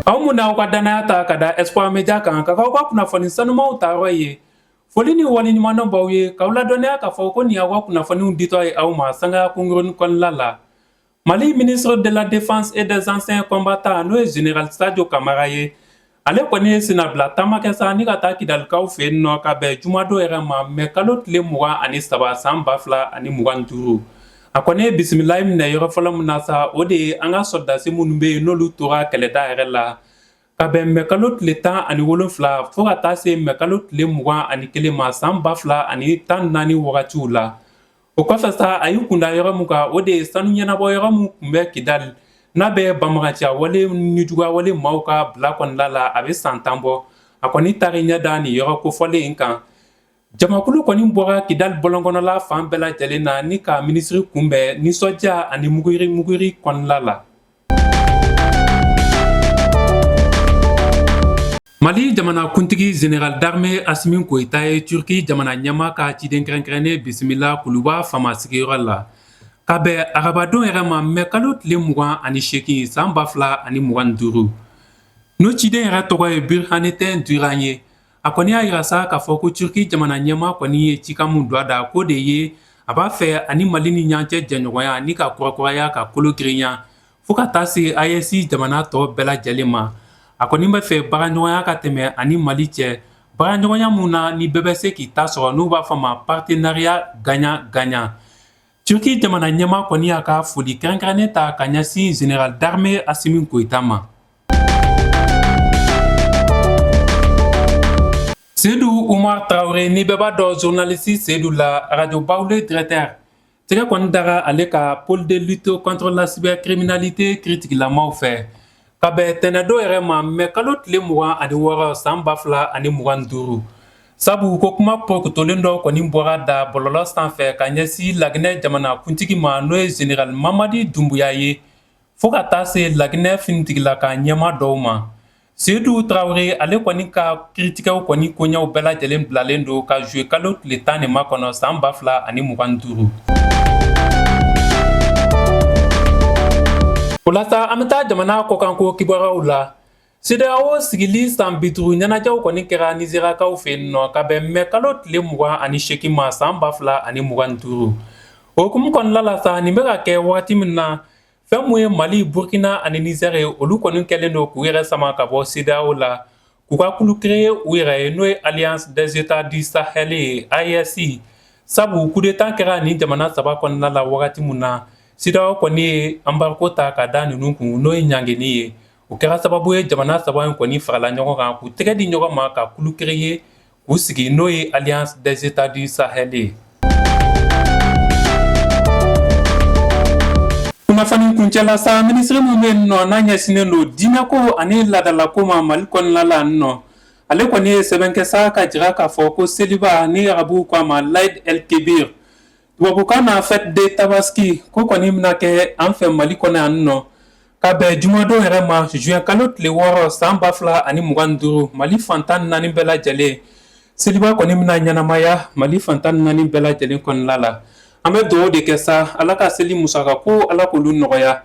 Aw minnu y'aw ka danaya ta ka da Espoir Media kan ka k'aw ka kunnafoni sanumanw ta yɔrɔ ye. Foli ni waleɲumandɔn b'aw ye k'aw ladɔnniya k'a fɔ ko nin y'aw ka kunnafoniw ditɔ ye aw ma sangaya kunkurunnin kɔnɔna la. Mali ministre de la Défense et des anciens combattants n'o ye Général Sadio Camara ye ale kɔni ye sennabila taama kɛ sa ni ka taa kidalikaw fɛ yen nɔ ka bɛn jumadon yɛrɛ ma mɛ kalo tile mugan ani saba san ba fila ani mugan duuru a kɔni ye bisimilayi minɛ yɔrɔ fɔlɔ min na sa o de ye an ka sɔrɔdasi minnu bɛ yen n'olu tora kɛlɛda yɛrɛ la ka bɛn mɛ kalo tile tan ani wolonwula fo ka taa se mɛ kalo tile mugan ani kelen ma san ba fila ani tan naani wagatiw la O kɔfɛ sa a y'i kun da yɔrɔ min kan o de ye sanu ɲɛnabɔ yɔrɔ min tun bɛ kidali n'a bɛ banbaganciya wale nijuguya wale maaw ka bila kɔnɔna la a bɛ san tan bɔ a kɔni taar'i ɲɛ da nin yɔrɔ kofɔlen in kan jamakulu kɔni bɔra kidali bɔlɔnkɔnɔla fan bɛɛ lajɛlen na ni ka minisiri kunbɛn nisɔndiya ani muguri kɔnɔna la mali jamanakuntigi Général d'armée Assimi Goïta ye turki jamana ɲɛmaa ka ciden kɛrɛnkɛrɛnnen bisimila kuluba faama sigiyɔrɔ la ka bɛn arabadon yɛrɛ ma mɛ kalo tile mugan ani seegin san ba fila ani mugan duuru n'o ciden yɛrɛ tɔgɔ ye Burhanettin Duran ye A kɔni y'a yira sa k'a fɔ ko Turquie jamana ɲɛmaa kɔni ye cikan min don a da, k'o de ye a b'a fɛ a ni Mali ni ɲɔgɔn cɛ jɛɲɔgɔnya ni ka kurakuraya ka kolo girinya fo ka taa se AES jamana tɔ bɛɛ lajɛlen ma. A kɔni b'a fɛ baaraɲɔgɔnya ka tɛmɛ a ni Mali cɛ, baaraɲɔgɔnya min na ni bɛɛ bɛ se k'i ta sɔrɔ n'u b'a fɔ a ma partenariat gagnant gagnant. Turki jamana ɲɛmaa kɔni y'a ka foli kɛrɛnkɛrɛnnen ta ka ɲɛsin Général d'armée Assimi Goïta ma. Seydou Oumar Traoré ni bɛɛ b'a dɔn journaliste Seydou la radio Baoulé directeur tɛgɛ kɔni dara ale kan pôle de lutte contre la cybercriminalité kiritigɛlamaw fɛ. Ka bɛn tɛnɛndon yɛrɛ ma mɛ kalo tile mugan ani wɔɔrɔ san ba fila ani mugan duuru sabu ko kuma porokutolen dɔ kɔni bɔr'a da bɔlɔlɔ sanfɛ ka ɲɛsin laginɛ jamanakuntigi ma n'o ye Général Mamadi Doumbouya ye fo ka taa se laginɛ finitigila ka ɲɛmaa dɔw ma Seydou Traoré ale kɔni ka Kiritigɛ kɔni koɲaw bɛɛ lajɛlen bilalen don ka juillet kalo tile tan ni ma kɔnɔ san ba fila ani mugan duuru o la sa an bɛ taa jamana kɔkanko kibaruyaw la CEDEAO sigili san bi duuru ɲɛnajɛw kɔni kɛra Nizeriyakaw fɛ yen nɔ ka bɛn mɛ kalo tile mugan ani seegin ma san ba fila ani mugan duuru o hukumu kɔnɔna la sa nin bɛ ka kɛ waati min na Fɛn min ye Mali, Burkina ani Niger ye, olu kɔni kɛlen don k'u yɛrɛ sama ka bɔ CEDEAO la, k'u ka kulu créer u yɛrɛ ye, n'o ye Alliance des Etats du Sahel ye, AES, sabu coup d'Etat kɛra nin jamana saba kɔnɔna la wagati min na, CEDEAO kɔni ye embargo ta ka da ninnu kun, n'o ye ɲangeni ye. O kɛra sababu ye jamana saba in kɔni farala ɲɔgɔn kan, k'u tɛgɛ di ɲɔgɔn ma ka kulu créer u sigi n'o ye Alliance des Etats du Sahel ye kunnafoni kuncɛ la sa minisiri min bɛ yen nɔ n'a ɲɛsinnen don diinɛko ani laadalako ma mali kɔnɔna la nɔ ale kɔni ye sɛbɛn kɛ sa k'a jira k'a fɔ ko seliba ni arabuw ko a ma l'Aïd el Kebir Tubabukan na fête de tabaski k'o kɔni bɛna kɛ an fɛ Mali kɔnɔ yan nɔ ka bɛn jumadon yɛrɛ ma juin kalo tile wɔɔrɔ san ba fila ani mugan duuru Mali fantan naani bɛɛ lajɛlen seliba kɔni bɛna ɲɛnamaya Mali fantan naani bɛɛ lajɛlen kɔnɔna la an bɛ dugawu de kɛ sa Ala ka seli musakakow Ala k'olu nɔgɔya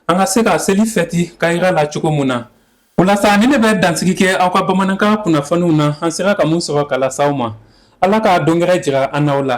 an ka se ka seli fɛti kayira la cogo mun na O la sa nin ne bɛ dansigi kɛ aw ka bamanankan kunnafoniw na an sera ka mun sɔrɔ k'a lase aw ma ala ka don gɛrɛ jira an n'aw la